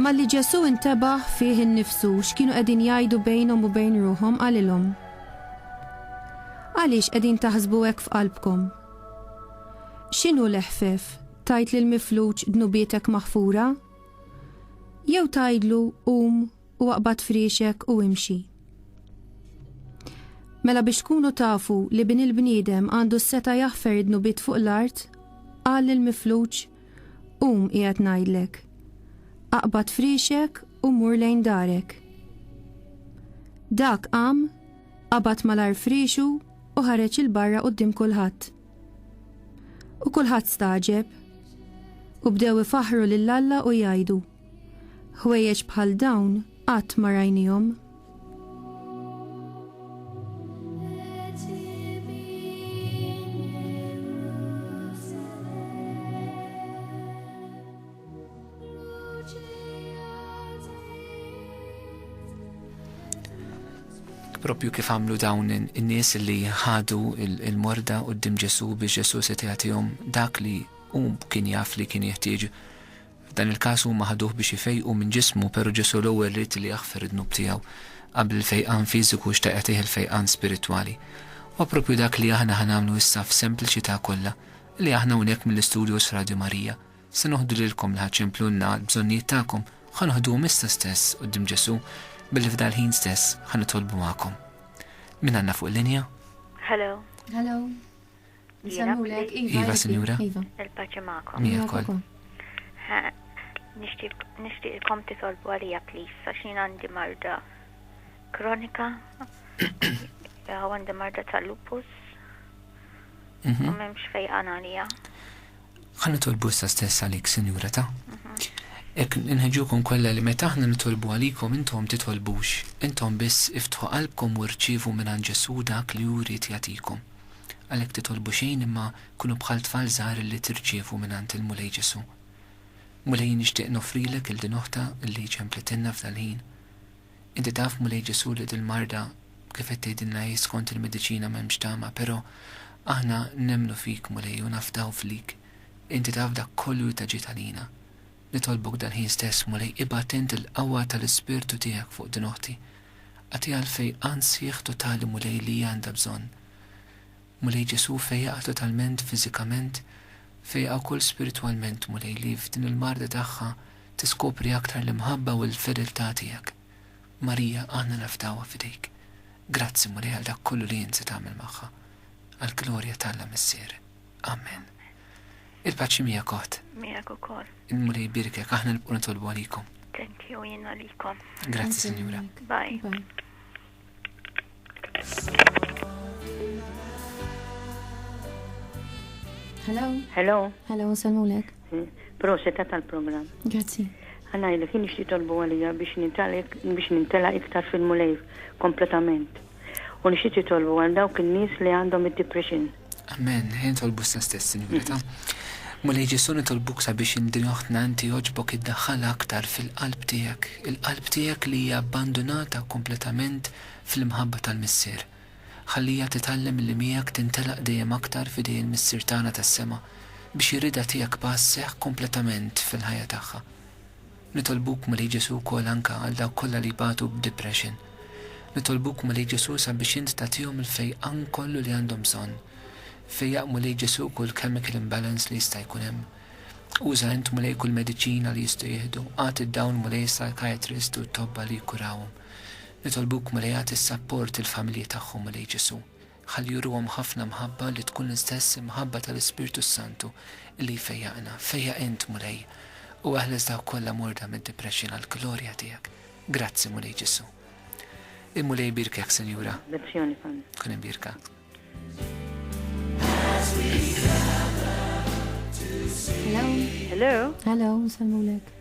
Malli Ġesù intebaħ fih innifsu x'kienu qegħdin jgħidu bejnhom u bejn ruħhom qalilhom, Għaliex qegħdin taħsbu hekk f'qalbkom? X'inhu l-eħfef, tgħid lill-mifluġ 'dnubietek maħfura'? Jew tgħidlu 'qum u aqbad friexek u imxi'? Mela biex tkunu tafu li Bin il-bniedem għandu s-setgħa jaħfer id-dnubiet fuq l-art, qal lill-mifluġ, Qum qiegħed ngħidlek. Aqbad frixek u mur lejn darek. Dak qam, qabad malar frixu u ħareġ il-barra qudiem kulħadd. U kulħadd staġeb. U bdew ifaħru lil Alla u jgħidu. Ħwejjeġ bħal dawn qatt ma rajnihom. propju kif għamlu dawn in-nies li ħadu il-morda u d-dim Ġesu biex Ġesu se dak li um kien jaf li kien jeħtieġ F'dan il-każ huma ħaduh biex ifejqu minn ġismu pero' Ġesu' l-ewwel ried li jaħfer id-dnub tiegħu qabel il-fejqan fiżiku xtaqetih il-fejqan spiritwali. Huwa propju dak li aħna ħa nagħmlu issa f'sempliċita' kollha li aħna hawnhekk mill-istudios Radju Marija se noħdu lilkom li ħa ċemplulna l-bżonnijiet tagħkom ħa noħduhom issa stess quddiem Ġesu' billi f'dal-ħin stess ħa nitolbu magħkom. Min għandna fuq linja? Hello. Hello. Iva, Sinjura. Il-paċi magħkom. Miegħek ukoll. Nixtieqkom titolbu għalija please għax jien għandi marda kronika. Għandi marda tal-lupus. Mhm. U m'hemmx fejqan għalija. Ħa nitolbu issa stess għalik, Sinjura ta'. Mhm. Ek nħeġukom kollha li meta aħna nitolbu għalikom intom titolbux, intom biss iftħu qalbkom u rċivu minn Ġesu dak li juri jagħtikom. Għalhekk titolbu xejn imma kunu bħal tfal żgħar li tirċievu mingħand il-Mulej Ġesù. Mulej jien nixtieq noffrilek lil din oħtha li ċemplitilna f'dal-ħin. Inti taf Mulej Ġesù li dil-marda kif qed tgħidilna hi skont il-mediċina m'hemmx tama però aħna nemmnu fik Mulej u nafdaw flik inti taf dak kollu li ta ġid għalina. Nitolbok dal-ħin stess Mulej ibgħat int il-qawwa tal-Ispirtu tiegħek fuq din oħti Agħti għalfej ansieħ totali Mulej li hija għandha bżonn. Mulej Ġesù fejjaqha totalment fiżikament, fejjaqha wkoll spiritwalment Mulej li f'din il-marda tagħha tiskopri aktar l-imħabba u l-fedeltà tiegħek. Marija aħna nafdawha f'idejk. Grazzi Mulej għal dak kollu li int se tagħmel magħha. Għall-glorja t'Alla Missier. Amen. Il-paċi mija kot. Mija ukoll. Il-Mulej birkek, aħna nibqu nitolbu għalikom. Thank you jien għalikom. Grazzi, Sinjura. Bye. Bye. Hello. Hello. Hello, salmulek. Hmm. Proseta tal-program. Grazzi. Għanna jilek, jien ixti tolbu għalija biex nintela iktar fil-mulej kompletament. U nixti titolbu għal dawk il-nis li għandhom id-depression. Amen, ħajn tolbu sna stess, Sinjura ta. Mulej Ġesu nitolbuk sabiex in din oħtna inti jogħġbok iddaħħalha aktar fil-qalb tiegħek, il-qalb tiegħek li hija abbandunata kompletament fl-imħabba tal-Missier. Ħalliha titgħallem illi miegħek tintelaq dejjem aktar f'idej il-Missier tagħna tas-sema biex ir-rieda tiegħek passeħ kompletament fil-ħajja tagħha. Nitolbuk Mulej Ġesu wkoll anka għal dawk kollha li jbatu b'depression. Nitolbuk Mulej Ġesu sabiex int tagħtihom il-fejqan kollu li għandhom bżonn. Fejjaq Mulej Ġesu kull chemical imbalance li jista' jkun hemm. Uża int Mulej kull mediċina li jistgħu jieħdu. Agħti d-dawn Mulej is-psychiatrist u t-tobba li jkurawhom. Nitolbuk Mulej agħti s-sapport il-familji tagħhom Mulej Ġesu. Ħalli juruhom ħafna mħabba li tkun l-istess imħabba tal-Ispirtu s-Santu li jfejjaqna. Fejjaq int, Mulej, u eħles dawk kollha morda mid-depression għall-glorja tiegħek. Grazzi, Mulej Ġesù. Il-Mulej ibierkek, Sinjura. Tkun imbierka. Hello. Hello. Hello, nsellmulek.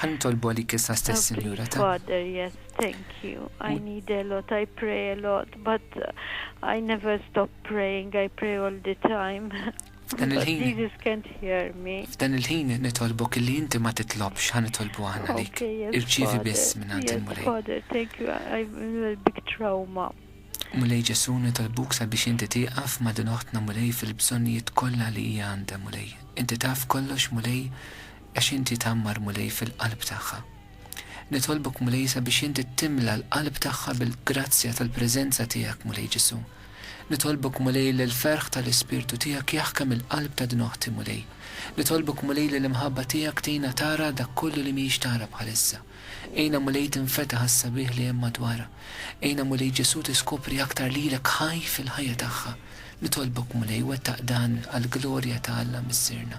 Ħa nitolbu għalik issa stess, Sinjura, ta. Father, yes, thank you. I need a lot, I pray a lot, but I never stop praying, I pray all the time. F'dan il-ħin. Jesus can't hear me. F'dan il-ħin nitolbok illi inti ma titlobx ħa nitolbu aħna lik. Irċivi biss minn għand il-Mulej. Father, thank you, I'm in a big trauma. Mulej Ġesu nitolbuk sabiex inti tieqaf ma' din oħtna Mulej fil-bżonnijiet kollha li hija għandha Mulej. Inti taf kollox Mulej, Għax Inti tgħammar, Mulej, fil-qalb tagħha. Nitolbok, Mulej, sabiex Inti timla l-qalb tagħha bil-grazzja tal-preżenza Tiegħek, Mulej Ġesù. Nitolbok, Mulej, li l-ferħ tal-Ispirtu Tiegħek jaħkem il-qalb ta' din oħti, Mulej. Nitolbok, Mulej, li l-imħabba Tiegħek tgħinha tara dak kollu li mhijiex tara bħalissa. Għinha, Mulej, tinfetaħ għas-sabiħ li hemm madwarha. Għinha, Mulej Ġesù, tiskopri aktar lilek ħaj fil-ħajja tagħha. Nitolbok, Mulej, wettaq dan għall-glorja ta' Alla Missierna.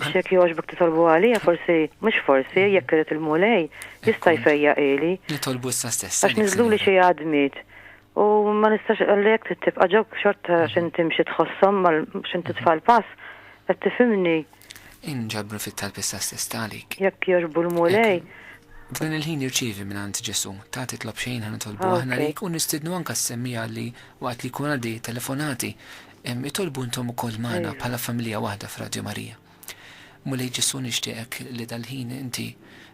Biex jekk jogħġbok titolbu għalija, forsi, mhux forsi, jekk irid il-Mulej, jista' jfejjaq ili. Nitolbu issa stess. Għax niżluli xi għadmiet. U ma nistax għalli jekk trid tibqa' ġewk xorta għax inti mxi tħosshom mal għax inti tfal pass. Qed tifhimni? Inġabru fit-talb issa stess t'għalik. Jekk jogħġbu l-Mulej. F'dan il-ħin irċievi mingħand Ġesù. Ta' titlob xejn ħa nitolbu aħna lejk u nistiednu anke s-semmiegħa li waqt li jkun għaddej it-telefonati, Itolbu intom ukoll magħna bħala familja waħda f'Radju Marija. Mulej Ġesù nixtieqek li dal-ħin inti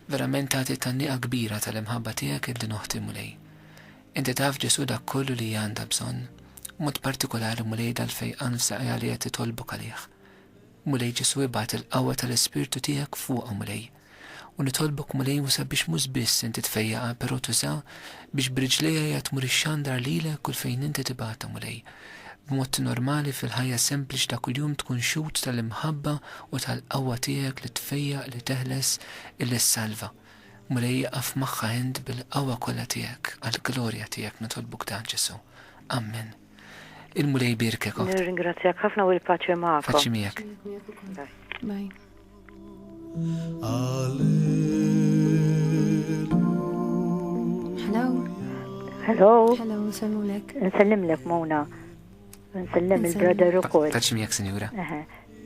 verament tagħti tgħanniqa kbira tal-imħabba tiegħek lil din oħti Mulej. Inti taf Ġesù dak kollu li hi għandha bżonn, b'mod partikolari Mulej dal-fejqan f'saqajha li qed titolbok għalih. Mulej Ġesù ibgħat il-qawwa tal-Ispirtu tiegħek fuqha Mulej. U nitolbok Mulej usa' biex mhux biss inti tfejjaqha però tuża' biex b'riġlejha hija tmur ixxandar lilek kull fejn inti tibgħatha Mulej. B'mod normali fil-ħajja sempliċi ta' kuljum tkun xhud tal-imħabba u tal-qawwa tiegħek li tfejjaq, li teħles, li ssalva. Mulej iqaf magħha int bil-qawwa kollha tiegħek, għall-glorja tiegħek nitolbuk dan Ġesù. Ammen. Il-Mulej jbierkek, oħt. Nirringrazzjak ħafna u l-paċe magħkom. Paċi miegħek. Bye. Hello. Hello. Hello, nsellimlek. Nsellimlek, Mona. Nsellem il-brother u koll. Paċi miegħek, sinjura.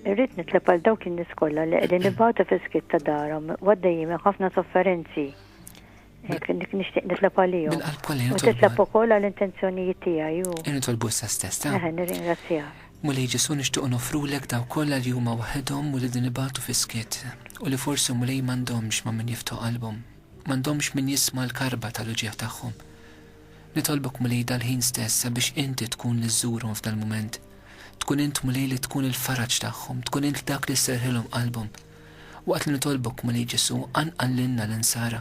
Irrid nitleb għal dawk in-nies kollha li qegħdin nibgħatu fiskit ta' darhom għaddejjin ħafna sofferenzi. Hekk, nixtieq nitlob għalihom. Bil-qalb kollha nitolbu. U titlob ukoll għall-intenzjonijiet tiegħi u. Nitolbu issa stess, ta? Eħe, nirringrazzjak. Mulej Ġesù nixtiequ nofrulek dawk kollha li huma waħedhom u li qegħdin ibatu fis-skiet, u li forsi Mulej m'għandhomx ma' min jiftħu qalbhom, m'għandhomx min jisma' l-karba tal-uġigħ tagħhom. Nitolbok Mulej dal-ħin stess sabiex Inti tkun li żżurhom f'dal-mument. Tkun Int Mulej li tkun il-faraġ tagħhom, tkun Int dak li sserrħilhom qalbhom. Waqt li nitolbok, Mulej Ġesù, qanqal lilna l-Insara.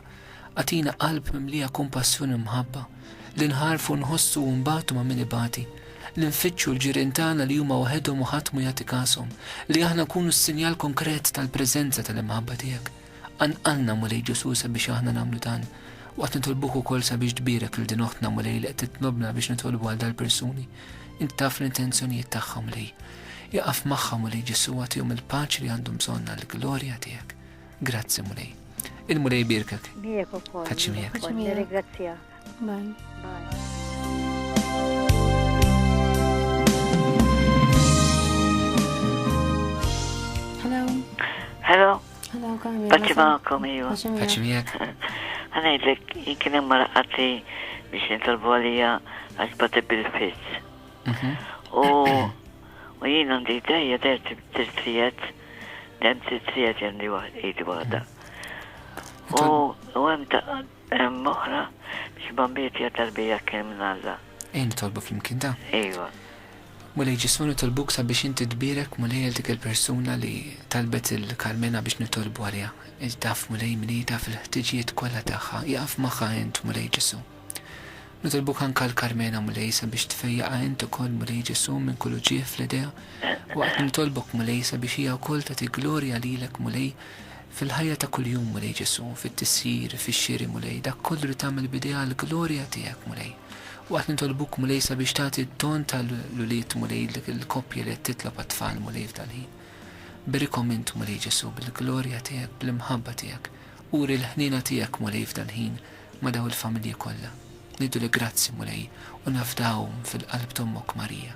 Agħtina qalb mimlija kumpassjoni u mħabba, li nħarrfu, nħossu u nbatu ma' min ibati, li nfittxu l-ġirien tagħna li huma waħedhom u ħadd mhu jagħti każhom, li aħna nkunu s-sinjal konkret tal-preżenza tal-imħabba tiegħek. Qanqalna, Mulej Ġesù, sabiex aħna nagħmlu dan. Waqt nitolbuk ukoll sabiex tbierek lil din oħtna, Mulej, li qed titlobna biex nitolbu għal dal-persuni. Int taf l-intenzjonijiet tagħhom li iqaf magħhom u li Ġesu għatihom il-paċi li għandhom bżonn għall-glorja tiegħek. Grazzi Mulej. Il-Mulej birkek. Miegħek ukoll. Paċi miegħek. Nirringrazzjak. Bye. Bye. Hello. Hello. Hello, Carmela. Paċi ma'kom, iwa. Paċi miegħek. Ħanajdlek, kien hemm marqati biex nitolbu għalija għax bati bil-fizz. Mhm. U u jien għandi dejja der tirtrijet, dem tirtrijet għandi waħda. U hemm Hemm oħra biex bambit hija tarbija kien minn Alla. Ejja nitolbu flimkien dan. Ejwa. Mulej Ġesù nitolbuk sabiex inti tbierek Mulej għal dik il-persuna li talbet il Carmena biex nitolbu għaliha. Int taf Mulej min hi taf il-ħtiġijiet kollha tagħha ieqaf magħha int Mulej Ġesù. Nitolbuk anke għal Carmena Mulej sabiex tfejjaqha int ukoll Mulej Ġesù minn kull uġigħ fl-idejha. Waqt li nitolbok Mulej sabiex hija wkoll tagħti glorja lilek Mulej Fil-ħajja ta' kuljum, Mulej Ġesù, fit-tisjir, fix-xiri, Mulej, dak kollu li tagħmel b'idejha għall-glorja tiegħek, Mulej. U qed nitolbuk, Mulej, sabiex tagħti d-don ta' l-ulied, Mulej, lill-koppji li qed titlob għat-tfal, Mulej, f'dal-ħin. Berikhom int, Mulej Ġesù, bil-glorja tiegħek, bl-imħabba tiegħek. Uri l-ħniena tiegħek, Mulej, f'dal-ħin, ma' dawn il-familji kollha. Ngħidulek grazzi, Mulej, u nafdawhom fil-qalb t'Ommok Marija.